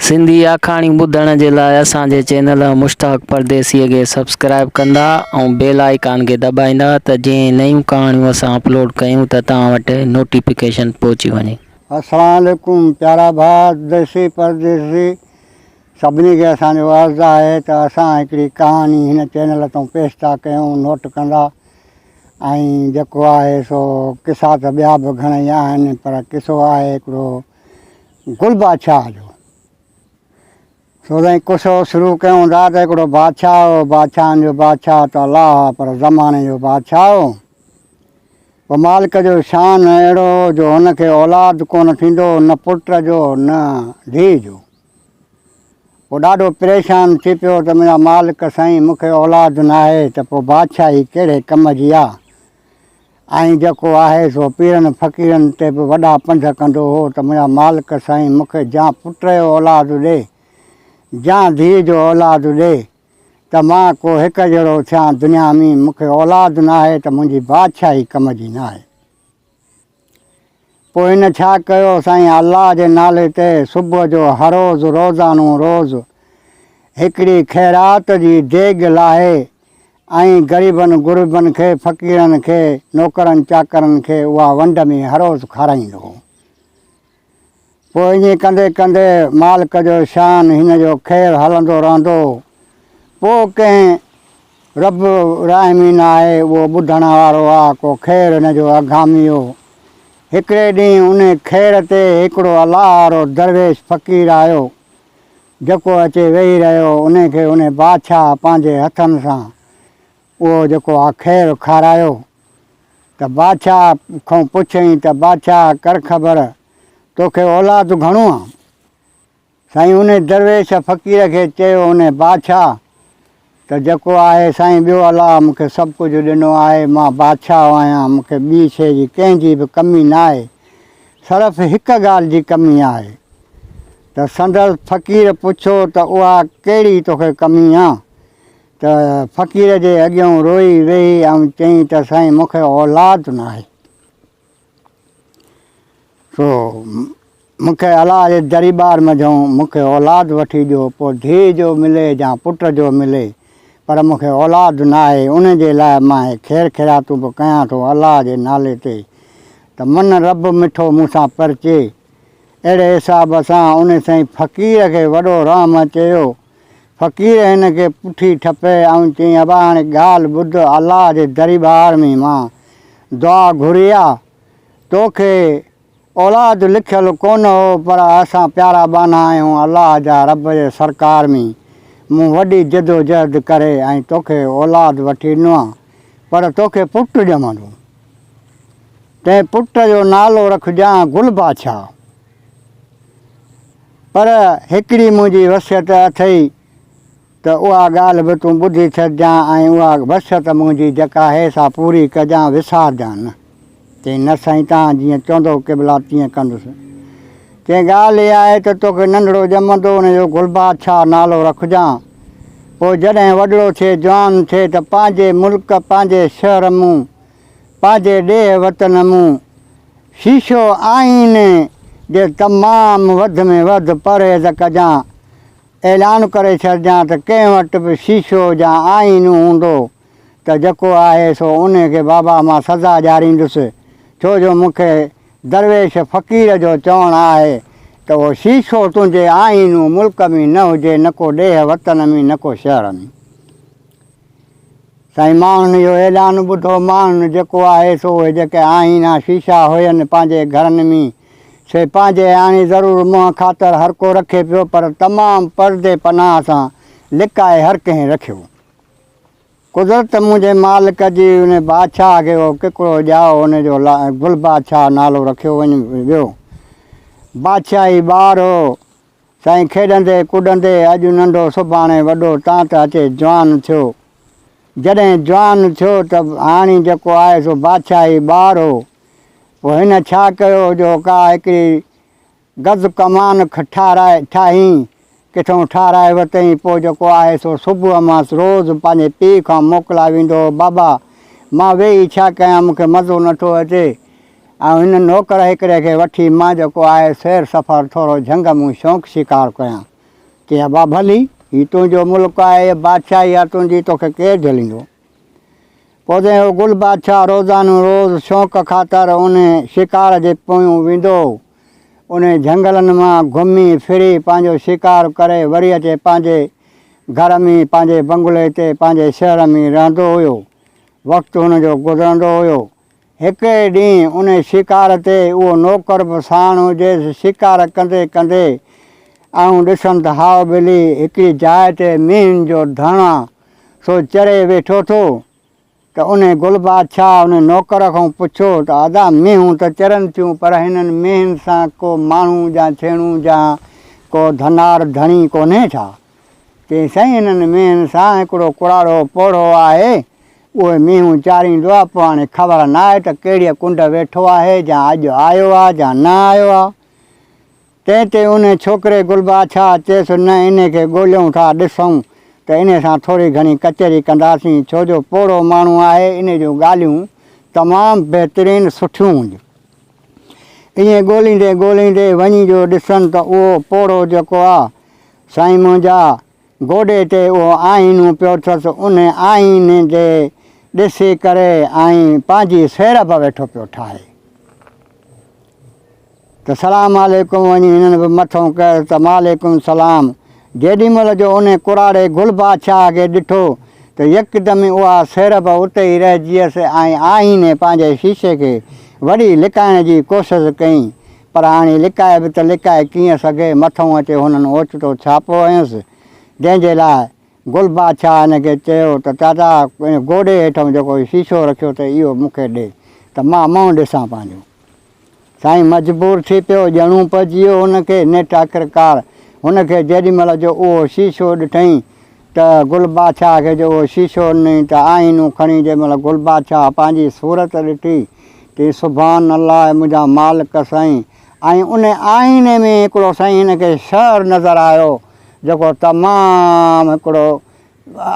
سنڌي آکاڻيون ٻڌڻ جي لاء اسان جي چينل مشتاق پرديسيء کي سبسڪرائيب ڪندا ۽ بيل آئيڪان کي دٻائيندا ته جيئن نيون ڪهاڻيون اسان اپلوڊ ڪيون ته توهان وٽ نوٽيفڪيشن پهچي وڃي. اسلام عليڪم پيارا ڀاء ديسي پرديسي سڀني کي اسان جو عرض آهي ته اسان هڪڙي ڪهاڻي هن چينل تون پيش ٿا ڪيون نوٽ ڪندا ۽ جيڪو آهي سو قصا ته ٻيا به گهڻئي آهن پر قصو آهي هڪڙو گل بادشاهه جو سوزين قصو شروع ڪيون ٿا ته هڪڙو بادشاهه هو بادشاهن جو بادشاهه ته الله هو پر زماني جو بادشاهه هو پوء مالڪ جو شان اهڙو هو جو هن کي اولاد ڪونه ٿيندو هو نه پٽ جو نه ڌيء جو پوء ڏاڍو پريشان ٿي پيو ته منهنجا مالڪ سائين مون کي اولاد ناهي ته پوء بادشاهي ڪهڙي ڪم جي آ آئين جيڪو آهي سو پيرن فقيرن تي به وڏا پنڌ ڪندو هو ته منهنجا مالڪ سائين مون کي جيان پٽ جو اولاد ڏي جيان ڌيء جو اولاد ڏي ته مان ڪو هڪ جهڙو ٿيان دنيا مين مون کي اولاد ناهي ته منهنجي بادشاهي ڪم جي ناهي پوء هن ڇا ڪيو سائين الله جي نالي تي صبح جو هروز روزانو روز هڪڙي خيرات جي ديڳ لاهي ائين غريبن غربن کي، فقيرن کي، نوڪرن چاڪرن کي اها ونڊ ۾ هروز کارائيندو هو. پوء ائين ڪندي ڪندي مالڪ جو شان هن جو خير هلندو رهندو هو. پوء ڪنهن رب الراحمين آهي اهو ٻڌڻ وارو آ ڪو خير هن جو اگهامي هو. هڪڙي ڏينهن انهي خير تي هڪڙو الله وارو درويش فقير آيو. جيڪو اچي ويهي رهيو، ان کي ان بادشاهه پنهنجي هٿن سان اهو جيڪو آ کير کارايو ته بادشاهه کون پڇيائين ته بادشاهه ڪرخبر توکي اولاد گهڻو آ؟ سائين ان درويش فقير کي چيو ان بادشاهه ته جيڪو آهي سائين ٻيو الله مون کي سڀ ڪجهه ڏنو آهي مان بادشاهه آهيان مون کي ٻي شيء جي ڪنهن جي به ڪمي نه آهي صرف هڪ ڳالهه جي ڪمي آهي ته سندس فقير پڇيو ته اها ڪهڙي توکي ڪمي آ ته فقير جي اڳيون روئي ويهي ۽ چيائين ته سائين مون کي اولاد ناهي. سو مون کي الا جي دريبار منجهون مون کي اولاد وٺي ڏيو پوء ڌيء جو ملي يا پٽ جو ملي پر مون کي اولاد ناهي ان جي لاء مان هي خير خيراتون به ڪيان ٿو الا جي نالي تي ته من رب مٺو مون سان پرچي اهڙي حساب سان ان سائين فقير کي وڏو رحم اچيو فقير هن کي پٺي ٺپي ۽ چيائين، ابا هاڻي ڳالهه ٻڌ، الله جي دريبار ۾ مان دعا گهري آ، تو کي اولاد لکيل ڪونه هو، پر اسان پيارا ٻانها آهيون الله جا، رب جي سرڪار ۾ مون وڏي جدوجهد ڪري ۽ تو کي اولاد وٺي ڏنو آ، پر تو کي پٽ ڄمندو، تنهن پٽ جو نالو رکجان گل بادشاهه. پر هڪڙي منهنجي وصيت اٿئي ته اها ڳالهه به تون ٻڌي ڇڏجان ۽ اها وصيت منهنجي جيڪا آهي سا پوري ڪجان وسارجان نه. چيائين نه سائين توهان جيئن چوندو قبلا تيئن ڪندس. چيائين ڳالهه اها آهي ته توکي ننڍڙو ڄمندو ان جو گلبادشاهه نالو رکجان پوء جڏهن وڏڙو ٿئي جوان ٿئي ته پنهنجي ملڪ پنهنجي شهر مون پنهنجي ڏيهه وطن مون شيشو آئيني جي تمام وڌ ۾ وڌ پرهيز ڪجان. اعلان ڪري ڇڏجان ته ڪنهن وٽ به شيشو يا آئينو هوندو ته جيڪو آهي سو انهي کي بابا مان سزا ڏياريندس ڇو جو مون کي درويش فقير جو چوڻ آهي ته اهو شيشو تنهنجي آئينو ملڪ ۾ نه هجي نه ڪو ڏيهه وطن ۾ نه ڪو شهر ۾. سائين ماڻهن اهو اعلان ٻڌو ماڻهن جيڪو آهي سو اهي جيڪي آهين ها شيشا هين پنهنجي گهرن مين سي پنهنجي آڻي ضرور منهن خاطر هر ڪو رکي پيو پر تمام پردي پناهه سان لڪائي هر ڪنهن رکيو قدرت منهنجي مالڪ جي ان بادشاهه کي اهو ڪڪڙو ڄائو ان جو گل بادشاهه نالو رکيو وڃ ويو بادشاهي ٻار هو سائين کيڏندي ڪڏندي اڄ ننڍو سڀاڻي وڏو تان ته اچي جوان ٿيو. جڏهن جوان ٿيو ته هاڻي جيڪو آهي سو بادشاهي ٻار هو. پوء هن ڇا ڪيو جو ڪا هڪڙي گز ڪمان ٺهرائي ٺاهين. ڪٿئون ٺهرائي ورتئين پوء جيڪو آهي سو صبح مانس روز پنهنجي پيء کان موڪلا ويندو هو بابا! مان ويهي ڇا ڪيان مون کي مزو نٿو اچي. آئون هن نوڪر هڪڙي کي وٺي مان جيڪو آهي سير سفر ٿورو جهنگ مون شوق شڪار ڪيان. چي ابا ڀلي، هي تنهنجو ملڪ آهي، هيء بادشاهي آهي تنهنجي، توکي ڪير جهليندو؟ پوندين هو گل بادشاهه روزانو روز شوق خاطر انهيء شڪار جي پويون ويندو هو. انهيء جهنگلن مان گهمي ڦري پنهنجو شڪار ڪري وري اچي پنهنجي گهر ۾ پنهنجي بنگلي تي پنهنجي شهر ۾ رهندو هيو. وقت هن جو گذرندو هيو. هڪ ڏينهن ان شڪار تي اهو نوڪر به ساڻ هجيس. شڪار ڪندي ڪندي آئون ڏسم ته هاء ٻلي هڪڙي جاء تي مينهن جو ڌڻا سو چري ويٺو ٿو ته ان گل بادشاهه ان نوڪر کان پڇيو ته ادا مينهون ته چرن ٿيون پر هنن مينهن سان ڪو ماڻهو جا ڇيڻو جا ڪو ڌنار ڌڻي ڪونهي ڇا؟ تي سائين انهن مينهن سان هڪڙو ڪراڙو پوڙهو آهي. اهي مينهون چاريندو آ، پوء هاڻي خبر ناهي ته ڪهڙيء ڪنڊ ويٺو آهي، جا اڄ آيو آ جا نه آيو آ. تنهن تي انهي ڇوڪري گلبادشاهه چيس، نه انهي کي ڳوليون ٿا، ڏسون ته انهي سان ٿوري گهڻي ڪچهري ڪنداسين، ڇو جو پوڙهو ماڻهو آهي، انهي جون ڳالهيون تمام بهترين سٺيون هونديون. ائين ڳوليندي ڳوليندي وڃي جو ڏسن ته اهو پوڙهو جيڪو آ، سائين منهنجا، گوڏي تي اهو آئينو پيو اٿس، ان آئيني ڏي ڏسي ڪري آئين پنهنجي سير به ويٺو پيو ٺاهي ته سلام عليڪم وڃي هنن به مٿو ڪيس ته وعليڪم السلام. جيڏي مهل جو ان ڪراڙي گل بادشاهه کي ڏٺو ته يڪدم ئي اها سير به اتي ئي رهجيس ۽ آئيني پنهنجي شيشي کي وري لڪائڻ جي ڪوشش ڪئي پر هاڻي لڪائي به ته لڪائي ڪيئن سگهي، مٿئون اچي هنن اوچتو ڇاپو هنيس، جنهن جي لاء گل بادشاهه هن کي چيو ته چاچا ان گوڏي هيٺئون جيڪو هي شيشو رکيو اٿئي اهو مون کي ڏي ته مان منهن ڏسان پنهنجو. سائين مجبور ٿي پيو، ڄڻون پئجي ويو هن کي نيٺ آخرڪار هن کي جيڏي مهل جو اهو شيشو ڏٺئين ته گل بادشاهه کي جو اهو شيشو ڏنئين ته آئينو کڻي جنهن مهل گل بادشاهه پنهنجي صورت ڏٺي تي سبحان الله اي منهنجا مالڪ سائين ۽ ان آئيني ۾ هڪڙو سائين هن کي شهر نظر آيو جيڪو تمام هڪڙو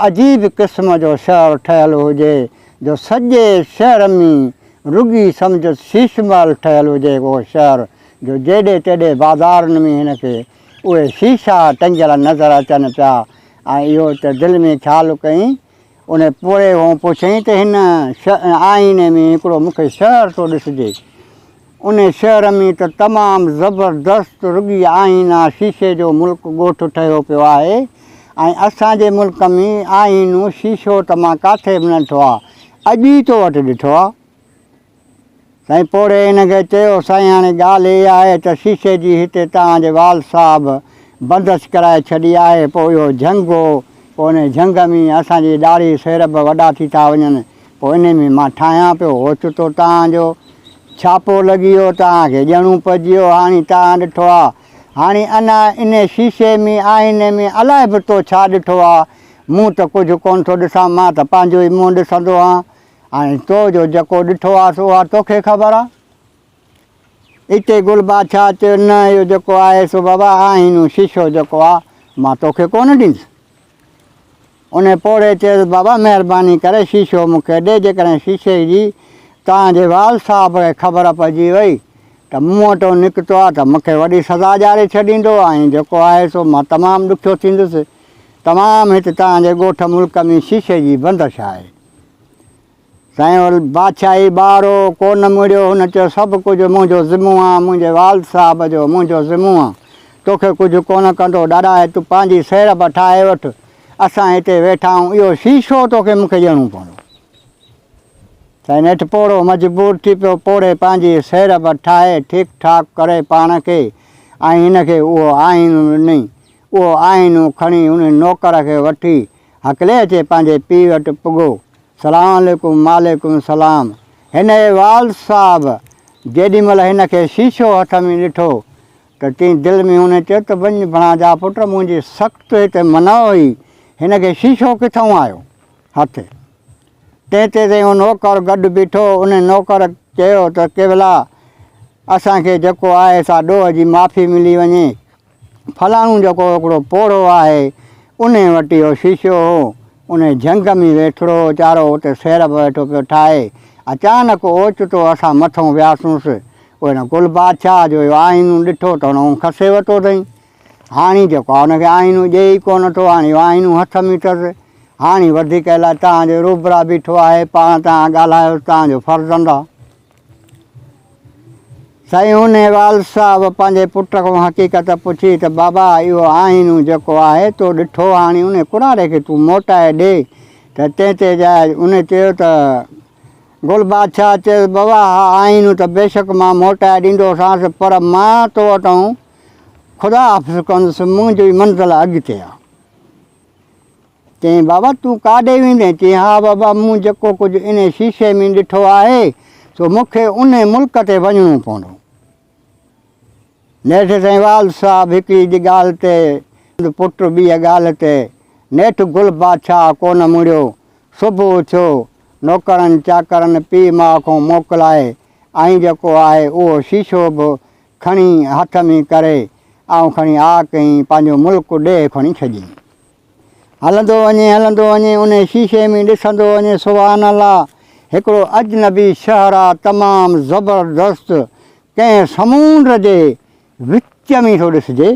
عجيب قسم جو شهر ٺهيل هجي جو سڄي شهر ۾ رڳي سمجهه شيش محل ٺهيل هجي اهو شهر جو جيڏي تيڏي بازارن ۾ هن کي اهي شيشا ٽنگيل نظر اچن پيا ۽ اهو ته دل ۾ خيال ڪئين. ان پوڙهي کان پڇيائين ته هن آئيني ۾ هڪڙو مون کي شهر ٿو ڏسجي. ان شهر ۾ ته تمام زبردست رڳي آئينا شيشي جو ملڪ ڳوٺ ٺهيو پيو آهي ۽ اسان جي ملڪ ۾ آئينو شيشو ته مان ڪاٿي به نه ڏٺو آهي. اڄ ئي تو وٽ ڏٺو آهي. سائين پوڙهي هن کي چيو، سائين هاڻي ڳالهه اها آهي ته شيشي جي هتي توهان جي وال صاحب بندش ڪرائي ڇڏي آهي، پوء اهو جهنگ هو، پوء انهي جهنگ ۾ اسان جي ڏاڙهي سير به وڏا ٿي ٿا وڃن، پوء انهي ۾ مان ٺاهيان پيو، اوچتو توهان جو ڇاپو لڳي ويو، توهان کي ڄڻو پئجي ويو، هاڻي توهان ڏٺو آ، هاڻي انا انهي شيشي ۾ آئيني ۾ الائي به تو ڇا ڏٺو آ، مون ته ڪجهه ڪونه ٿو ڏسان، مان ته پنهنجو ئي منهن ڏسندو هان. ۽ تو جو جيڪو ڏٺو آهس اها توکي خبر آ. اتي گل بادشاهه چيو نه اهو جيڪو آهي سو بابا آئينو شيشو جيڪو آ مان توکي ڪونه ڏيندس. ان پوڙهي چيس بابا مهرباني ڪري شيشو مون کي ڏي جيڪڏهن شيشي جي توهان جي وال صاحب کي خبر پئجي وئي ته مون وٽو نڪتو آ ته مون کي وڏي سزا ڄاڙي ڇڏيندو ۽ جيڪو آهي سو مان تمام ڏکيو ٿيندس. تمام هت توهان جي ڳوٺ ملڪ ۾ شيشي جي بندش آهي. سائين ول بادشاهي ٻارو ڪو نه مڙيو، هن چيو سڀ ڪجهه منهنجو ذمو آ، منهنجي والد صاحب جو منهنجو ذمو آ، توکي ڪجهه ڪونه ڪندو، ڏاڏائي تو پنهنجي سيڙڀ ٺاهي وٺ، اسان هتي ويٺا آهون، اهو شيشو توکي مونکي ڏيڻو پوندو. سائين نيٺ پوڙهو مجبور ٿي پيو، پوڙهي پنهنجي سيڙڀ ٺاهي ٺيڪ ٺاڪ ڪري پاڻ کي ۽ هن کي اهو آئينو ڏنئي، اهو آئينو کڻي هن نوڪر کي وٺي هڪلي اچي پنهنجي پيء وٽ پڳو. سلام عليڪم وعليڪم سلام هن اي والد صاحب! جيڏي مهل هن کي شيشو هٿ ۾ ڏٺو ته تين دل ۾ هونئن چيو ته وڃ ڀڻاجا پٽ منهنجي سخت توهي تي منع هئي هن کي شيشو ڪٿئون آيو هٿ. تنهن تي تائين اهو نوڪر گڏ بيٺو ان نوڪر چيو ته قبلا اسان کي جيڪو آهي سا ڏوهه جي معافي ملي وڃي. فلاڻو جيڪو هڪڙو پوڙهو آهي، انهي وٽ اهو شيشو هو. انهي جهنگ ۾ ويٺڙو هو ويچارو، اتي سيرپ ويٺو پيو ٺاهي. اچانڪ اوچتو اسان مٿئون وياسونس. پوء هن گل بادشاهه جو اهو آئينو ڏٺو ته هن اونهه کسي ورتو اٿئي. هاڻي جيڪو آهي ان کي آئينو ڏئي ئي ڪو نه ٿو. هاڻي اهو آئينو هٿ ۾ اٿس. هاڻي وڌيڪ الائي تهان جي روبرا بيٺو آهي، پاڻ تهان ڳالهايوس، تهان جو فرزند آهي. سائين هونيوال صاحب پنهنجي پٽ کان حقيقت پڇي ته بابا اهو آئينو جيڪو آهي تو ڏٺو هاڻي ان ڪناري کي تون موٽائي ڏي ته تنهن تي جاء ان چيو ته گل بادشاهه چيس بابا اها آئينو ته بيشڪ مان موٽائي ڏيندو سانس پر مان تو وٽان خدا حافظ ڪندس منهنجي منزل اڳتي آهي. چيائين، بابا تون ڪاڏي ويندين؟ چيائين، ها بابا مون جيڪو ڪجهه انهي شيشي ۾ ڏٺو آهي سو مون کي انهي ملڪ تي وڃڻو پوندو. نيٺ سائين والد صاحب هڪڙي ڳالهه تي ۽ پٽ ٻيء ڳالهه تي نيٺ گل بادشاهه ڪونه مڙيو. صبح اٿيو، نوڪرن چاڪرن پيء ماء کون موڪلائي ۽ جيڪو آهي اهو شيشو به کڻي هٿ ۾ ڪري آئون کڻي آ ڪئين پنهنجو ملڪ ڏيهه کڻي ڇڏيائين. هلندو وڃي هلندو وڃي انهي شيشي ۾ ڏسندو وڃي سبحان الله هڪڙو اجنبي شهرا تمام زبردست ڪنهن سمونڊ جي وچ ۾ ٿو ڏسجي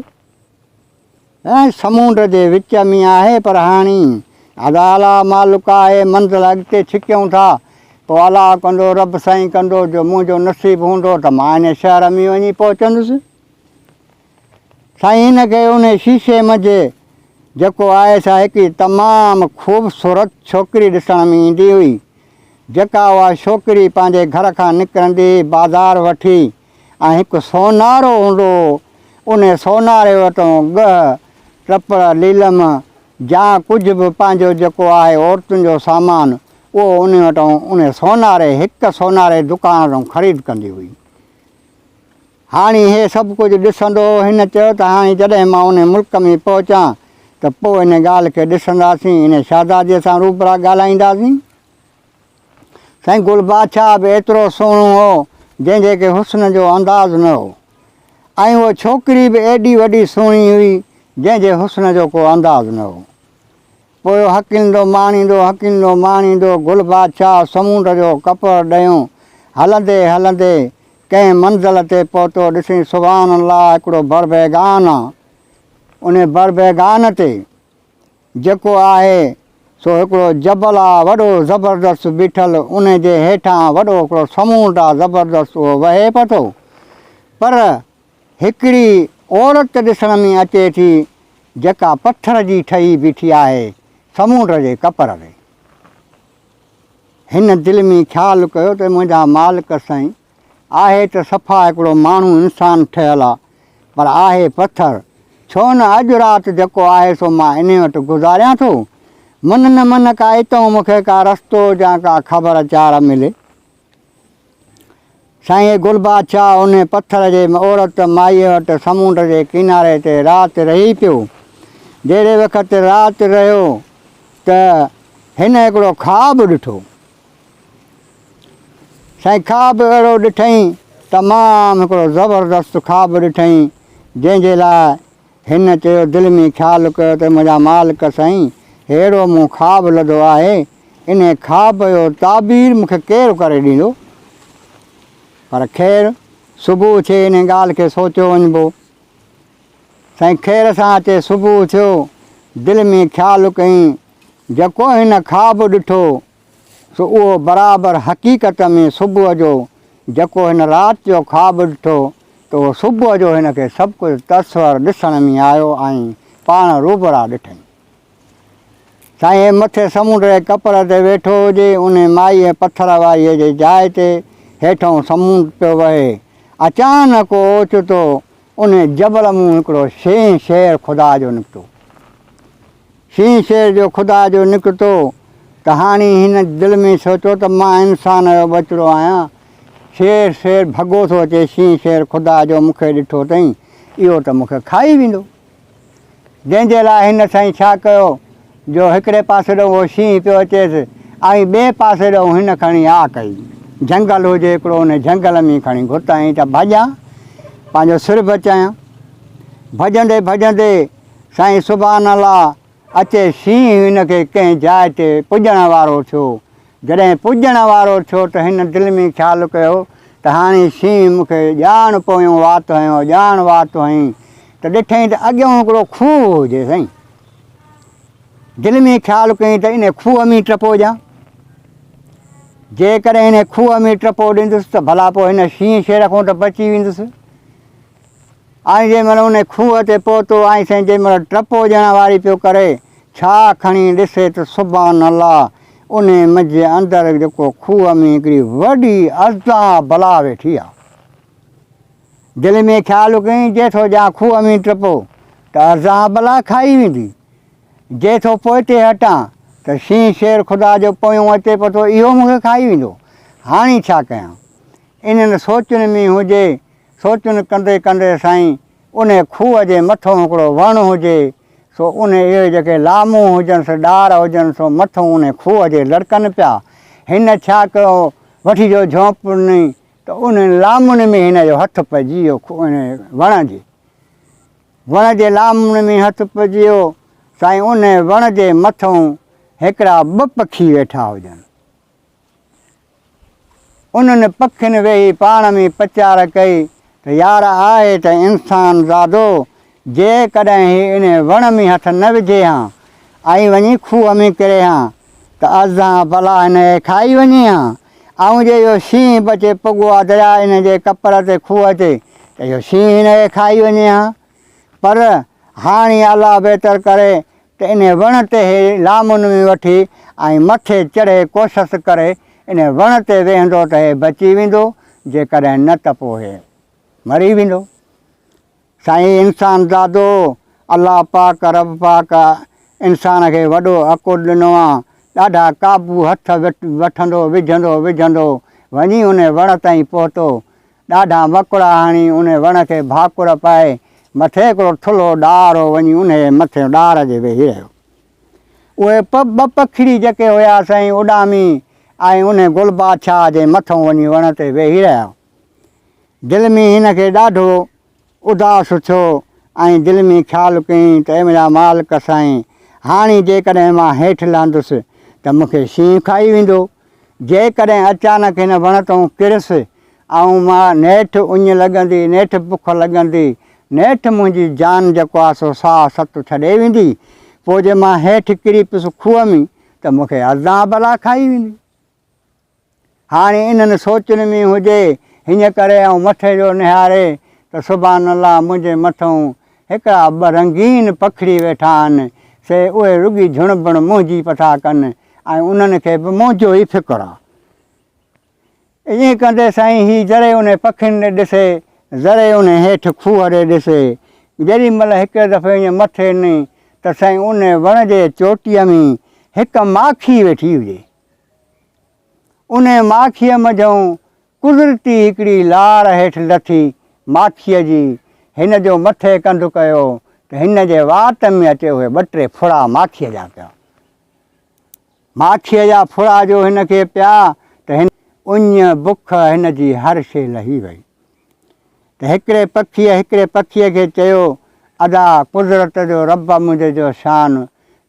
۽ سمونڊ جي وچ ۾ آهي پر هاڻي ادا الا مالڪ آهي منزل اڳتي ڇڪيون ٿا پوء الا ڪندو رب سائين ڪندو جو منهنجو نصيب هوندو ته مان انهي شهر ۾ وڃي پهچندس. سائين هن کي انهي شيشي منجهه جيڪو آهي سا هڪ تمام خوبصورت ڇوڪري ڏسڻ ۾ ايندي هئي جيڪا اها ڇوڪري پنهنجي گهر کان نڪرندي بازار وٺي ۽ هڪ سونارو هوندو هو انهي سوناري وٽون ڳهه، ٽپڙ، ليلم جا ڪجهه به پنهنجو جيڪو آهي عورتن جو سامان اهو انهي وٽون انهي سوناري هڪ سوناري دڪان وٽون خريد ڪندي هئي. هاڻي هي سڀ ڪجهه ڏسندو. هن چيو ته هاڻي جڏهن مان انهي ملڪ ۾ پهچان ته پوء انهي ڳالهه کي ڏسنداسين، انهي شهزادي سان روبرا ڳالهائينداسين. سائين گل بادشاهه به ايترو سهڻو هو جنهن جي ڪي حسن جو انداز نه هو ۽ اهو ڇوڪري به ايڏي وڏي سهڻي هئي جنهن جي حسن جو ڪو انداز نه هو. پوء هڪلندو ماڻيندو هڪلندو ماڻيندو گل بادشاهه سمونڊ جو ڪپر ڏيون هلندي هلندي ڪنهن منزل تي پهتو ڏسين سبحان الله هڪڙو بربيگان آ ان بربيگان تي جيڪو آهي سو هڪڙو جبل آ وڏو زبردست بيٺل ان جي هيٺان وڏو هڪڙو سمونڊ آ زبردست اهو وهي پئي ٿو پر هڪڙي عورت ڏسڻ ۾ اچي ٿي جيڪا پٿر جي ٺهي بيٺي آهي سمونڊ جي ڪپر تي. هن دل ۾ خيال ڪيو ته منهنجا مالڪ سائين، آهي ته صفا هڪڙو ماڻهو انسان ٺهيل آ، پر آهي پٿر، ڇو نه اڄ رات جيڪو آهي سو مان انهي وٽ گذاريان ٿو، من نه من ڪا اتئون مون کي ڪا رستو يا ڪا خبر چار ملي. سائين گل بادشاهه ان پٿر جي عورت مائيء وٽ سمنڊ جي ڪناري تي رات رهي پيو. جهڙي وقت رات رهيو ته هن هڪڙو خواب ڏٺو. سائين خواب اهڙو ڏٺئين، تمام هڪڙو زبردست خواب ڏٺئين، جنهن جي لاء هن چيو دل ۾ خيال ڪيو ته منهنجا مالڪ سائين ههڙو مون خواب لڌو آهي، انهي خواب جو تعبير مون کي ڪير ڪري ڏيندو؟ پر خير صبح اٿي انهي ڳالهه کي سوچيو وڃبو. سائين خير سان اچي صبح اٿيو، دل ۾ خيال ڪيائين جيڪو هن خواب ڏٺو سو اهو برابر حقيقت ۾ صبح جو جيڪو هن رات جو خواب ڏٺو ته اهو صبح جو هن کي سڀ ڪجهه تصور ڏسڻ ۾ آيو ۽ پاڻ روبرا ڏٺئي. سائين مٿي سمنڊ جي ڪپر تي ويٺو هجي، انهي مائي ۽ پٿر واريء جي جاء تي هيٺئون سمنڊ پيو وهي. اچانڪ اوچتو انهي جبل مون هڪڙو شينهن شير خدا جو نڪتو. شينهن شير جو خدا جو نڪتو ته هاڻي هن دل ۾ سوچيو ته مان انسان جو ٻچڙو آهيان. شير شير ڀڳو ٿو اچي شينهن شير خدا جو مون کي ڏٺو اٿئي اهو ته مون کي کائي ويندو. جنهن جي لاء هن سائين ڇا ڪيو جو هڪڙي پاسي ڏانهن اهو شينهن پيو اچيس ۽ ٻئي پاسي ڏانهن هن کڻي آ ڪئي. جهنگل هجي هڪڙو ان جهنگل ۾ کڻي گهت هنئي ته ڀڄان پنهنجو سر بچايان. ڀڄندي ڀڄندي. سائين سبحان الله اچي شينهن هن کي ڪنهن جاء تي پڄڻ وارو ٿيو. جڏهن پڄڻ وارو ٿيو ته هن دل ۾ خيال ڪيو ته هاڻي شينهن مون کي ڄاڻ پويون وات هنيو ڄاڻ وات هنئين ته ڏٺئين ته اڳيون هڪڙو کوهه هو جي سائين دل ۾ خيال ڪيئين ته انهي کوهه ۾ ٽپو ڏيان جيڪڏهن انهي کوهه ۾ ٽپو ڏيندس ته ڀلا پوء هن شينهن شير کان ته بچي ويندس. آئين جنهن مهل ان کوهه تي پهتو، آئين سائين جنهن مهل ٽپو ڏيڻ واري پيو ڪري، ڇا کڻي ڏسي ته سبحان الله انهي مجهه اندر جيڪو کوهه ۾ هڪڙي وڏي اژدها بلا ويٺي آ. دل ۾ خيال ڪيائين جي ٿو ڄان کوهه ۾ ٽپو ته اژدها بلا کائي ويندي، جي ٿو پوئتي هٽان ته شينهن شير خدا جو پويون اچي پتو اهو مون کي کائي ويندو، هاڻي ڇا ڪيان؟ انهن سوچن ۾ هجي سوچون ڪندي ڪندي سائين انهي کوهه جي مٿو هڪڙو وڻ هجي سو انهي اهي جيڪي لامون هجنس ڏار هجن سو مٿو انهي کوهه جي لڙڪن پيا هن ڇا ڪيو وٺي جو جهونپ ڏني ته انهن لامن ۾ هن جو هٿ پئجي ويو انهي وڻ جي وڻ جي لامن ۾ هٿ پئجي ويو سائين انهي وڻ جي مٿو هڪڙا ٻه پکي ويٺا هجن. انهن پکين ويهي پاڻ ۾ پچار ڪئي ته يار آهي ته انسان زادو، جيڪڏهن هي انهي وڻ ۾ هٿ نه وجهي ها ۽ وڃي کوهه ۾ ڪري ها ته ازهان بلا هن کي کائي وڃي ها. آئون جي اهو شينهن بچي پڳو آ درياء ان جي ڪپر تي کوهه تي ته اهو شينهن هن کي کائي وڃي ها. پر هاڻي الله بهتر ڪري ته انهيء وڻ تي هي لامنوي وٺي ۽ مٿي چڙهي ڪوشس ڪري انهيء وڻ تي ويهندو ته هي بچي ويندو، جيڪڏهن نه ته پوء هي مري ويندو. سائين انسان زادو! الله پاڪ رب پاڪ انسان کي وڏو عقل ڏنو آ، ڏاڍا قابو هٿ وٺندو وجهندو وجهندو وڃي انهيء وڻ تائين پهتو ڏاڍا مڪڙا هڻي انهي وڻ کي ڀاڪر پائي مٿي هڪڙو ٿلهو ڏار هو وڃي انهي مٿي ڏار جي ويهي رهيو. اهي ٻه پکڙي جيڪي هيا سائين اڏامي ۽ انهي گل بادشاهه جي مٿئون وڃي وڻ تي ويهي رهيا. دل ۾ هن کي ڏاڍو اداس ٿيو ۽ دل ۾ خيال ڪيائين ته اي منهنجا مالڪ سائين! هاڻي جيڪڏهن مان هيٺ لهندس ته مون کي شينهن کائي ويندو. جيڪڏهن اچانڪ هن وڻ تئون ڪريس ۽ مان نيٺ اڃ لڳندي، نيٺ بک لڳندي، نيٺ منهنجي جان جيڪو آهي سو ساهه ست ڇڏي ويندي، پوء جي مان هيٺ ڪري پيس کوهه ۾ ته مون کي عذاب الا کائي ويندي. هاڻي انهن سوچن ۾ هجي، هن ڪري آئون مٿي جو نهاري ته سبحان الله منهنجي مٿئون هڪڙا ٻه رنگين پکڙي ويٺا آهن، سي اهي رڳي جهڻبڻ منهنجي پئي ٿا ڪن ۽ انهن کي به منهنجو ئي فڪر آ. ائين ڪندي سائين هي ذري انهن پکين ڏي ڏسي، ذري انهن هيٺ کوهه ڏي ڏسي. جيڏي مهل هڪڙي دفعي ائين مٿي نئي ته سائين انهن وڻ جي چوٽيء ۾ هڪ ماکي ويٺي هجي. انهيء ماکيء منجهئون قدرتي هڪڙي لار هيٺ لٿي ماکيء جي هن جو مٿي ڪنڌ ڪيو ته هن جي وات ۾ اچي اهي ٻه ٽي ڦڙا ماکيء جا پيا. ماکيء جا ڦڙا جو هن کي پيا ته هن اڃ بک هن جي هر شيء لهي وئي. ته هڪڙي پکيء هڪڙي پکيء کي چيو، ادا قدرت جو رب منهنجي جو شان،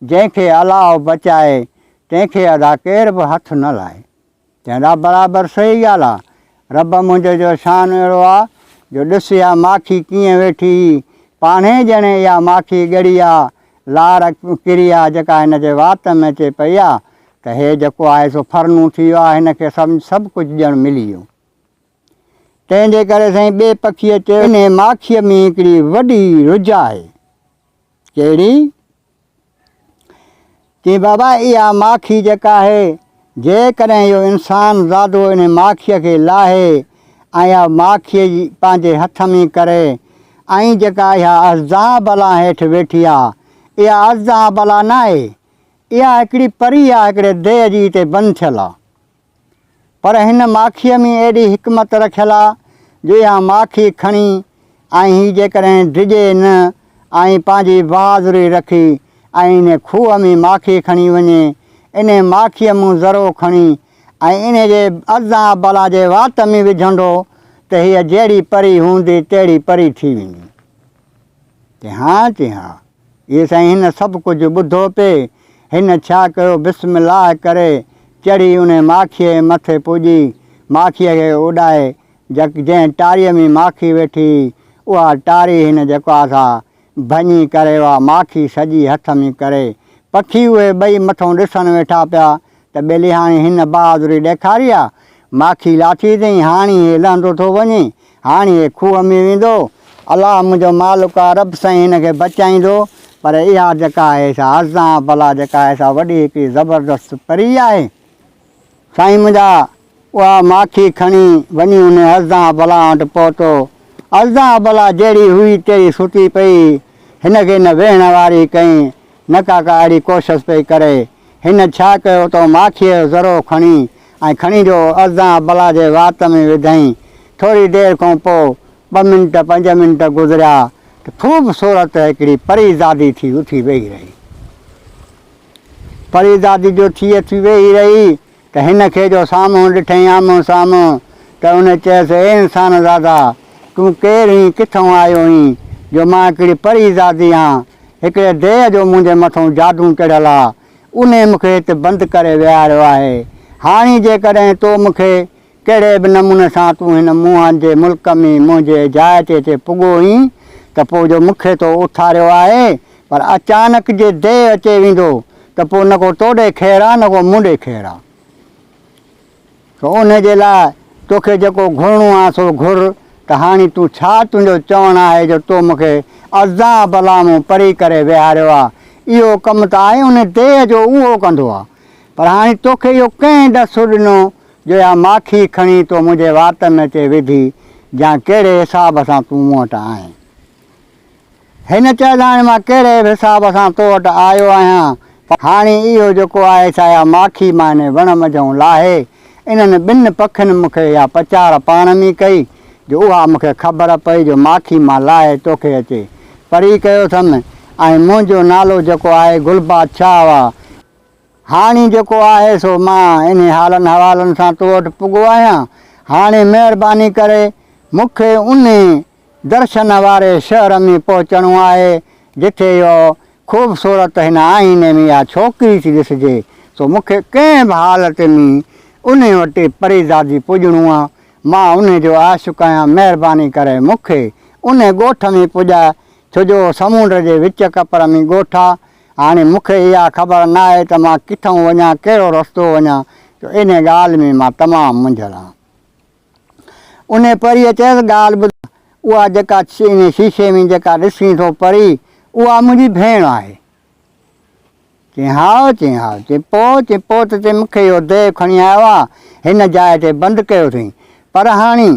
جنهن کي الاهو بچائي، تنهن کي ادا ڪير به هٿ نه لائي. چيائين، ادا برابر صحيح ڳالهه آ. رب منهنجي جو شان اهڙو آ، جو ڏس اها ماکي ڪيئن ويٺي، پاڻهين ڄڻي اها ماکي ڳڙي آ، لار ڪري آ، جيڪا هن جي وات ۾ اچي پئي آ، ته هي جيڪو آهي سو ڦرنون ٿي ويو آ، هن کي سڀ ڪجهه ڄڻ ملي ويو. تنهن جي ڪري سائين ٻئي پکيء چيو، انهيء ماکيء ۾ هڪڙي وڏي رج آهي. ڪهڙي؟ چيائين، بابا اها ماکي جيڪا آهي، جيڪڏهن اهو انسان زادو انهيء ماکيء کي لاهي ۽ اها ماکيء جي پنهنجي هٿ ۾ ڪري ۽ جيڪا اها ازدهان بلا هيٺ ويٺي آهي، اها ازدهان بلا ناهي، اها هڪڙي پري آهي، هڪڙي ديهه جي اتي بند ٿيل آهي. پر هن ماکيء ۾ اهڙي حڪمت رکيل آ جو اها ماکي کڻي ۽ هي جيڪڏهن ڊڄي نه ۽ پنهنجي بهادري رکي ۽ انهي کوهه ۾ ماکي کڻي وڃي، انهي ماکيء مون ذرو کڻي ۽ انهي جي ارضان ابلا جي وات ۾ وجهندو ته هيء جهڙي پري هوندي تهڙي پري ٿي ويندي. چي ها چي ها. اي سائين هن سڀ ڪجهه ٻڌو پي هن ڇا ڪيو بسم الله ڪري چڙهي انهي ماکيء جي مٿي پڄي ماکيء کي اڏائي جڪ جنهن ٽاريء ۾ ماکي ويٺي هئي اها ٽاري هن جڪ آ سا ڀڃي ڪري اها ماکي سڄي هٿ ۾ ڪري پکي اهي ٻئي مٿئون ڏسڻ ويٺا پيا ته ٻيلي هاڻي هن بهادري ڏيکاري آ، ماکي لاٿي اٿئين، هاڻي هي لهندو ٿو وڃي، هاڻي هي کوهه ۾ ويندو، الله منهنجو مالڪ آ، رب سائين هن کي بچائيندو، پر اها جيڪا آهي سا هزدان بلا جيڪا آهي سا وڏي هڪڙي زبردست پري آهي، سائين منهنجا اها ماکي کڻي وڃي ان الزان ابله وٽ پهتو. الزان ابله جهڙي هئي تهڙي ستي پئي. هن کي نه ويهڻ واري ڪئين نه ڪا ڪا اهڙي ڪوشس پئي ڪري. هن ڇا ڪيو ته ماکيء جو ذرو کڻي ۽ کڻي جو الزان ابله جي وات ۾ وڌئين. ٿوري دير کان پوء ٻه منٽ پنج منٽ گذريا ته خوب صورت هڪڙي پري زادي ٿي اٿي ويهي رهي. پري زادي جو ٿي اٿي ويهي رهي ته هن کي جو سامهون ڏٺئين آمهون سامهون ته ان چيس، اي انسان زادا! تون ڪير هين، ڪٿئون آيو هين، جو مان هڪڙي پري زادي آن، هڪڙي ديء جو منهنجي مٿئون جادون چڙهيل آ، انهي مون کي هت بند ڪري ويهاريو آهي، هاڻي جيڪڏهن تو مون کي ڪهڙي به نموني سان تون هن موهن جي ملڪ ۾ منهنجي جاء تي اتي پڳو هئين ته پوء جو مون کي تو اٿاريو آهي، پر اچانڪ جي ديء اچي ويندو ته پوء نه ڪو تو ڏي خير آ نه ڪو مون ڏي خير آ. سو انهي جي لاء تو کي جيڪو گهرڻو آ سو گهر ته هاڻي تون ڇا تنهنجو چوڻ آهي جو تو مون کي ازان بلا مون پري ڪري ويهاريو آ، اهو ڪم ته آء انهي ديء جو اهو ڪندو آ، پر هاڻي تو کي اهو ڪنهن ڏس ڏنو جو يا ماکي کڻي تو منهنجي واتن اچي وڌي جان ڪهڙي حساب سان تون مون وٽ آئين؟ هن چيس هاڻي مان ڪهڙي به حساب سان تو وٽ آيو آهيان پر هاڻي اهو جيڪو آهي سا يا ماکي مان انهي وڻ منجهئون لاهي انهن ٻن پکين مون کي اها پچار پاڻ ۾ ڪئي جو اها مون کي خبر پئي جو ماکي مان لاهي تو کي اچي پري ڪيو اٿم ۽ منهنجو نالو جيڪو آهي گلبادشاهه اها هاڻي جيڪو آهي سو مان انهي حالن حوالن سان تو وٽ پڳو آهيان، هاڻي مهرباني ڪري مون کي انهي درشن واري شهر ۾ پهچڻو آهي، جتي اها خوبصورت هن آئيني ۾ اها ڇوڪري ٿي ڏسجي، سو مون کي ڪنهن به حالت ۾ انهي وٽ پريزادي پڄڻو آ، مان انهي جو عاشق آهيان، مهرباني ڪري مون کي انهي ڳوٺ ۾ پڄاء، ڇو جو سمونڊ جي وچ ڪپر ۾ ڳوٺ آ، هاڻي مون کي اها خبر نه آهي ته مان ڪٿئون وڃان، ڪهڙو رستو وڃان، جو انهي ڳالهه ۾ مان تمام منجهيل آهيان. انهي پريء چيس، ڳالهه ٻڌ، اها جيڪا انهي شيشي ۾ جيڪا ڏسين ٿو پري، اها منهنجي ڀيڻ آهي. چيائين، هاء، چيائين، هاء، چيائين، پوء، چيائين، پوء ته، چيائين، مون کي اهو ديو کڻي آيو آ، هن جاء تي بند ڪيو اٿئين، پر هاڻي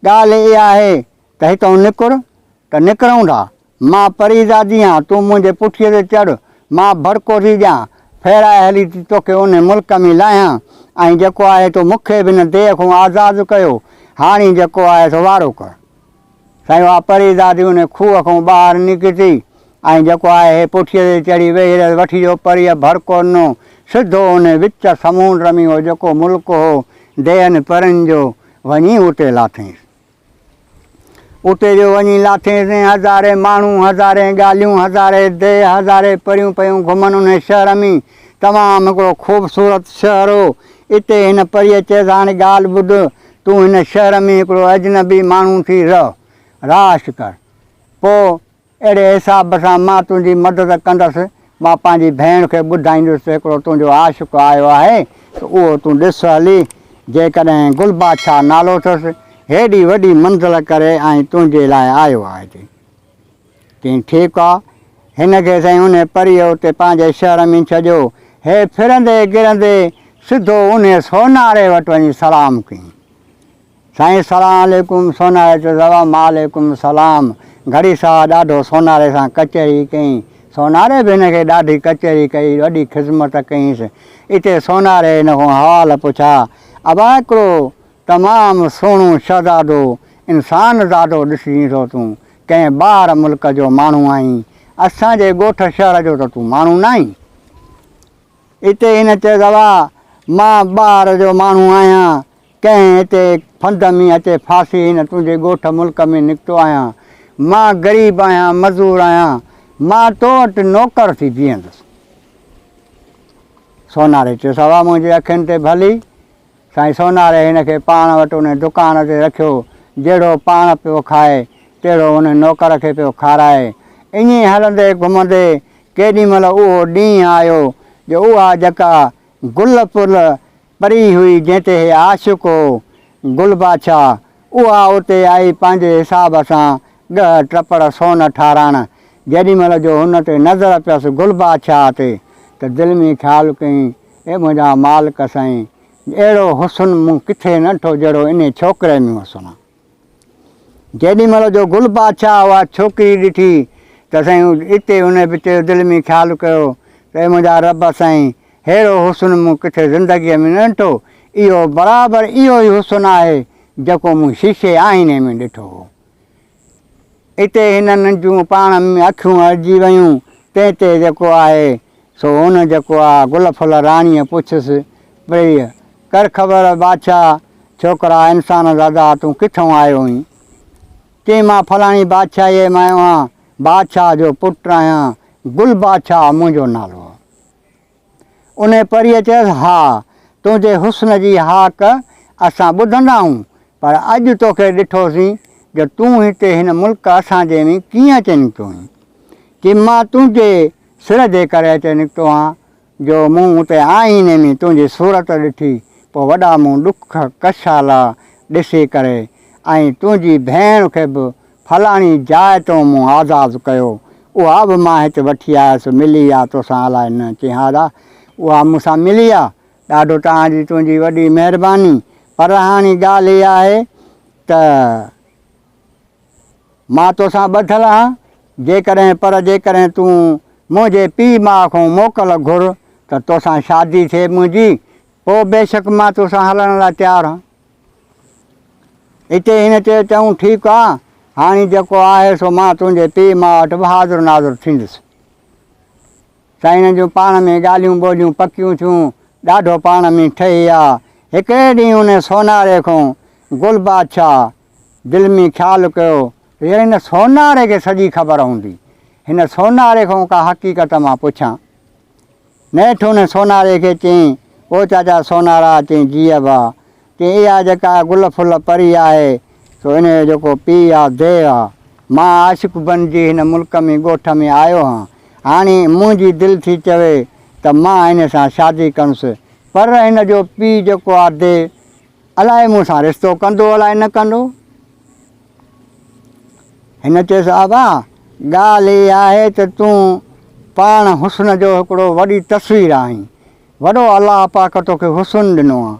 ڳالهه اها آهي ته هتئون نڪر، ته نڪرئون ٿا، مان پري زادي آن، تون منهنجي پٺيء تي چڙهه، مان ڀڙڪو ٿي ڏيان، ڦيرائي هلي ٿي توکي انهي ملڪ ۾ لاهيان، ۽ جيڪو آهي تو مون کي به ان ديهه کان آزاد ڪيو، هاڻي جيڪو آهي سو وارو ڪر. سائين اها پري زادي انهي کوهه کان ٻاهر نڪتي، ۽ جيڪو آهي هي پٺيء تي چڙهي ويهي رهيس، وٺي جو پريء ڀڙڪو ڏنو، سڌو انهي وچ سمونڊ ۾ هو جيڪو ملڪ هو ديهن پرين جو، وڃي اتي لاٿينس. اتي جو وڃي لاٿين سين هزارين ماڻهو هزارين ڳالهيون هزارين ديهه هزارين پريون پيون گهمن ان شهر ۾ تمام هڪڙو خوبصورت شهر هو اتي هن پريء چيس هاڻي ڳالهه ٻڌ تون هن شهر ۾ هڪڙو اجنبي ماڻهو ٿي رهه راش ڪر پوء اهڙي حساب سان مان تنهنجي مدد ڪندس، مان پنهنجي ڀيڻ کي ٻڌائيندس ته هڪڙو تنهنجو عاشق آيو آهي ته اهو تون ڏس هلي، جيڪڏهن گل بادشاهه نالو اٿس، هيڏي وڏي منزل ڪري ۽ تنهنجي لاء آيو آهي تي چين ٺيڪ آ، هن کي سائين انهي پريء اتي پنهنجي شهر ۾ ڇڏيو، هي ڦرندي گرندي سڌو انهي سوناري وٽ وڃي سلام ڪيائين. سائين السلام عليڪم سوناري چيو زواب مان عليڪم السلام گهڙي ساهه ڏاڍو سوناري سان ڪچهري ڪئي سوناري به هن کي ڏاڍي ڪچهري ڪئي وڏي خذمت ڪئينس اتي سوناري هن کان حوال پڇا ابا هڪڙو تمام سهڻو شهزادو انسان زادو ڏسجين ٿو تون ڪنهن ٻاهر ملڪ جو ماڻهو آهين اسان جي ڳوٺ شهر جو ته تون ماڻهو ناهين اتي هن چيو زواب مان ٻاهر جو ماڻهو آهيان ڪنهن هتي ڦند ۾ هتي ڦاسي هن تنهنجي ڳوٺ ملڪ ۾ نڪتو آهيان. مان غريب آهيان، مزور آهيان. مان تو وٽ نوڪر ٿي بيهندس. سوناري چيس، اها منهنجي اکين تي ڀلي. سائين سوناري هن کي پاڻ وٽ ان دڪان تي رکيو. جهڙو پاڻ پيو کائي، تهڙو ان نوڪر کي پيو کارائي. ائين هلندي گهمندي ڪيڏي مهل اهو ڏينهن آيو جو اها جڪا گل پل پري هئي جنهن تي هي عاشق هو گل بادشاهه اها اتي آئي پنهنجي حساب سان ڳهه ٽپڙ سون ٺاراڻ جيڏي مهل جو هن تي نظر پيس گل بادشاهه تي ته دل ۾ خيال ڪيائين اي منهنجا مالڪ سائين اهڙو حسن مون ڪٿي نه ڏٺو جهڙو انهي ڇوڪري ۾ حسن آ. جيڏي مھل جو گل بادشاھھ اھا ڇوڪري ڏٺي تھ سائين اتي ان پٽيو دل ۾ خيال ڪيو تھ اي منھنجا رب سائين! ھھيڙو حسن مون ڪٿي زندگيء ۾ نھ ڏٺو. اھو برابر اھو ئي حسن آھي، جيڪو مون شيشي آئيني ۾ ڏٺو ھو. اتي ھنن جون پاڻ ۾ اکيون اڙجي ويون. تنھن تي جيڪو آھي، سو هن جيڪو آ گل ڦل راڻيء پڇيس پريء ڪر خبر بادشاهه ڇوڪرا انسان زادا تون ڪٿئون آيو هئين؟ چيائين مان فلاڻي بادشاهيء مان آيو آهيان، بادشاهه جو پٽ آهيان، گل بادشاهه منهنجو نالو آ. انهيء پريء چيس ها تنهنجي حسن جي هاڪ اسان ٻڌندا آهيون پر اڄ توکي ڏٺوسين جو تون هتي هن ملڪ اسان جي ۾ ڪيئن اچي نڪتو هئين؟ چيم مان تنهنجي سر جي ڪري اچي نڪتو آن، جو مون اتي آئيني ۾ تنهنجي صورت ڏٺي، پوء وڏا مون ڏک ڪشالا ڏسي ڪري، ۽ تنهنجي ڀيڻ کي به فلاڻي جاء تون مون آزاد ڪيو، اها به مان هت وٺي آيس، ملي آ توسان الاء نه ڪيهاڏا اها مون سان ملي آ، ڏاڍو تان جي تنهنجي وڏي مهرباني، پر هاڻي ڳالهه اها آهي ته. مان توسان ٻڌل آهيان، جيڪڏهن پر جيڪڏهن تون منهنجي پيء ماء کان موڪل گهر ته توسان شادي ٿئي منهنجي، پوء بيشڪ مان توسان هلڻ لاء تيار آهيان. اتي هن چيو، چڱو ٺيڪ آ، هاڻي جيڪو آهي سو مان تنهنجي پيء ماء وٽ به حاضر ناظر ٿيندس. سائين هنن جون پاڻ ۾ ڳالهيون ٻولهيون پڪيون ٿيون، ڏاڍو پاڻ ۾ ٺهي آ. هڪڙي ڏينهن انهي سوناري کان گل بادشاهه دل ۾ خيال ڪيو ته يار هن سوناري کي سڄي خبر هوندي. هن سوناري کان ڪا حقيقت مان پڇان. نيٺ هن سوناري کي چيائين، او چاچا سونارا، چيائين جيء ابا، چيائين اها جيڪا گل ڦل پري آهي، سو ان جو جيڪو پيء آ، ديو آ. مان عاشق بنجي هن ملڪ ۾ ڳوٺ ۾ آيو هان. هاڻي منهنجي دل ٿي چوي ته مان هن سان شادي ڪندس. پر هن جو پيء جيڪو آ، ديو، الاء مون سان رشتو ڪندو الاء نه ڪندو. هن چيس ابا ڳالهه هي آهي ته تون پاڻ حسن جو هڪڙو وڏي تصوير آهين. وڏو الله پاڪ توکي حسن ڏنو آ.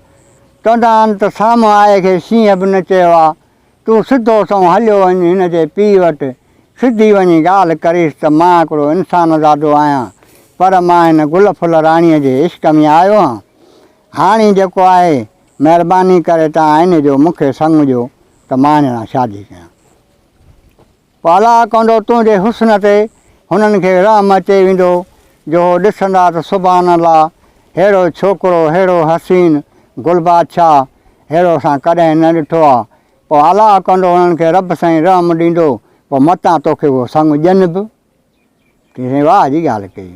چونداآهن ته سامهون آء کي شينهن به نه چيو آ. تون سڌو سنئون هليو وڃ هن جي پيء وٽ. سڌي وڃي ڳالهه ڪريس ته مان هڪڙو انسانزادو آهيان پر مان هن گل ڦل راڻيء جي عشق ۾ آيو هان. هاڻي جيڪو آهي مهرباني ڪري تان آئيني جو مون کي سڱ ڏيو ته مان هن سان شادي ڪيان. پالا ڪونڊو تنهنجي حسن تي هنن کي رحم اچي ويندو جو هو ڏسندا ته سبحان الله ههڙو ڇوڪرو ههڙو حسين گل بادشاهه ههڙو اسان ڪڏهن نه ڏٺو آ پو الا ڪونڊو هنن کي رب سائين رحم ڏيندو پو متان توکي اهو سڱ ڏين به. ڪنهن واهه جي ڳالهه ڪئي.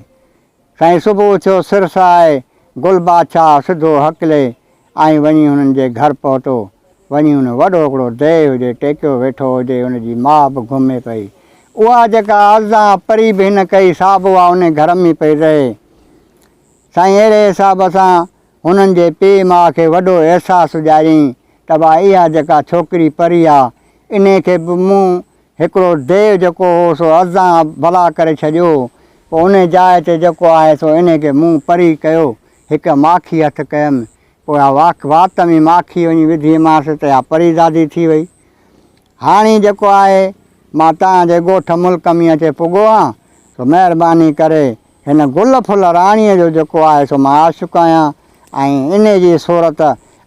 سائين صبح اٿيو سر سهائي گل بادشاهه سڌو هڪلي ۽ وڃي هنن جي گهر پهتو. وڃي هن وڏو هڪڙو ديهه هجي ٽيڪيو ويٺو هجي ان جي ماء به گهمي پئي. اها جيڪا ازدا پري به هن ڪئي سا به اها انهي گهر ۾ پئي رهي. سائين اهڙي حساب سان هنن جي پيء ماء کي وڏو احساس ڏياريائين ته ڀا اها جيڪا ڇوڪري پري آ انهي کي به مون هڪڙو ديو جيڪو هو سو ازان بلا ڪري ڇڏيو هو، پوء انهي جاء تي جيڪو آهي سو انهي کي مون پري ڪيو، هڪ ماکي هٿ ڪيم، پوء اها واک وات ۾ ماکي وڃي وڌيمانس ته اها پري زادي ٿي وئي. هاڻي جيڪو آهي مان توهان جي ڳوٺ ملڪ ۾ اچي پڳو آهيان، سو مهرباني ڪري هن گل ڦل راڻيء جو جيڪو آهي سو مان عاشق آهيان ۽ انهي جي صورت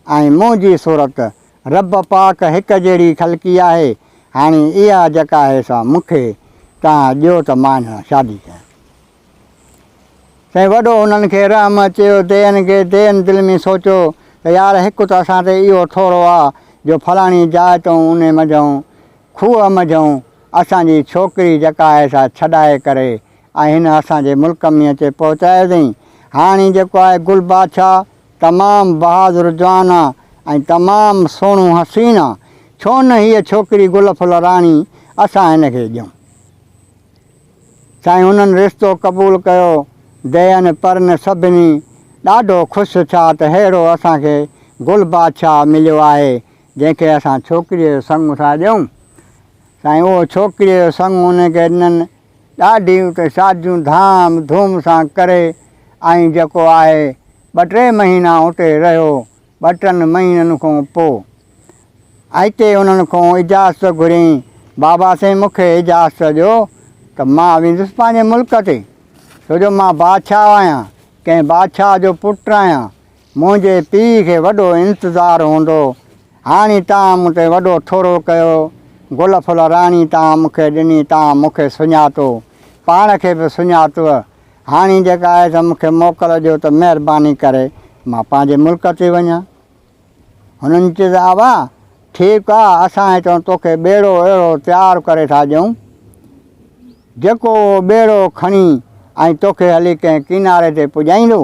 ۽ منهنجي صورت رب پاڪ هڪ جهڙي خلقي آهي هاڻي اها جڪا آهي سا مون کي توهان ڏيو ته مان سان شادي ڪيان. سائين وڏو انهن کي رحم اچيو دين کي دين دل ۾ سوچيو ته يار هڪ ته اسان تي اهو ٿورو آ جو فلاڻي جاء تئون انهي منجهئون کوهه منجهئون اسان جي ڇوڪري جڪا آهي سا ڇڏائي ڪري ۽ هن اسان جي ملڪ ۾ اچي پهچايو اٿئين هاڻي جيڪو آهي گل بادشاهه تمام بهادر جوان آ ۽ تمام سهڻو حسين آ ڇو نه هيء ڇوڪري گل ڦل راڻي اسان هن کي ڏيون. سائين انهن رشتو قبول ڪيو دين پرن سڀني ڏاڍو خوش ٿيا ته ههڙو اسان کي گل بادشاهه مليو آهي جنهن کي اسان ڇوڪريء جو سڱ ٿا ڏيون سائين اهو ڇوڪريء جو سڱ انهن کي ڏنن ڏاڍيون ته شاديون ڌام ڌوم سان ڪري ۽ جيڪو آهي ٻه ٽي مهينا اتي رهيو ٻه ٽن مهينن کون پو اتي انهن کون اجازت گهرين بابا سين مون کي اجازت ڏيو ته مان ويندس پنهنجي ملڪ تي ڇو جو مان بادشاهه آهيان ڪنهن بادشاهه جو پٽ آهيان منهنجي پيء کي وڏو انتظار هوندو. هاڻي تان مون تي وڏو ٿورو ڪيو. گل ڦل راڻي تان مون کي ڏني، تان مون کي سڃاتو. پاڻ کي به سڃاتوء. هاڻي جيڪا آهي سا مون کي موڪل ڏيو ته مهرباني ڪري مان پنهنجي ملڪ تي وڃان. هنن چيس، ابا! ٺيڪ آ، اسان هتان توکي ٻيڙو اهڙو تيار ڪري ٿا ڏيون، جيڪو اهو ٻيڙو کڻي ۽ توکي هلي ڪنهن ڪناري تي پڄائيندو،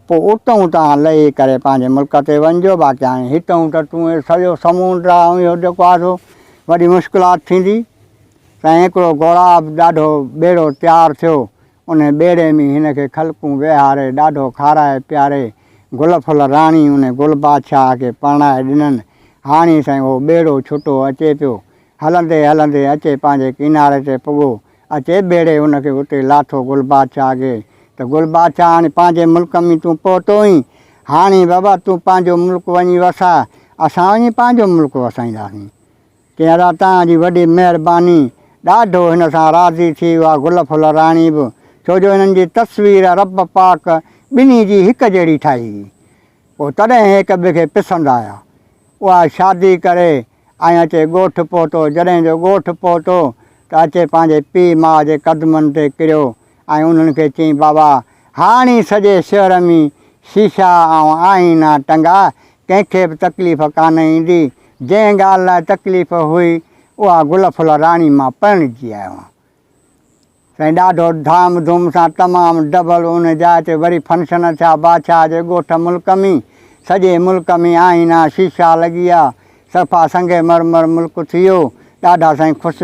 پوء اتهون توهان لهي ڪري پنهنجي ملڪ تي وڃجو، باقي هاڻي هتهون ته تون هي سڄو سمونڊ آ ۽ اهو جيڪو آڌو وڏي مشڪلات ٿيندي. تنهن هڪڙو گهوڙاب ڏاڍو ٻيڙو تيار ٿيو، انهي ٻيڙي ۾ هن کي خلقون ويهاري ڏاڍو کارائي پياري گل ڦل راڻي انهي گل بادشاهه کي پرڻائي ڏنن. هاڻي سائين اهو ٻيڙو ڇٽو اچي پيو. هلندي هلندي اچي پنهنجي ڪناري تي پڳو اچي ڀيڙي ان کي اتي لاٿو گل بادشاهه اڳي ته گل بادشاهه هاڻي پنهنجي ملڪ ۾ تون پهتوئين، هاڻي بابا تون پنهنجو ملڪ وڃي وساء، اسان وڃي پنهنجو ملڪ وسائينداسين. چيائين ادا توهان جي وڏي مهرباني. ڏاڍو هن سان راضي ٿي اها گل ڦل راڻي به، ڇو جو هنن جي تصوير رب پاڪ ٻنهي جي هڪ جهڙي ٺاهي هئي. پوء تڏهن هڪ ٻئي کي پسند آيا. اها شادي ڪري آئين اچي ڳوٺ پهتو. جڏهن جو ڳوٺ پهتو ته اچي پنهنجي پيء ماء جي قدمن تي ڪريو ۽ انهن کي چيائين بابا هاڻي سڄي شهر ۾ شيشا ۽ آئينا ٽنگا، ڪنهن کي به تڪليف ڪانه ايندي. جنهن ڳالهه لاء تڪليف هئي اها گل ڦل راڻي مان پرڻجي آيو آهيان. سائين ڏاڍو ڌام ڌوم سان تمام ڊبل ان جاء تي وري فنڪشن ڇا بادشاھ جي ڳوٺ ملڪ مين سڄي ملڪ مين آئينا شيشا لڳيا صفا سنگ مرمر ملڪ ٿيو ڏاڍا سائين خوش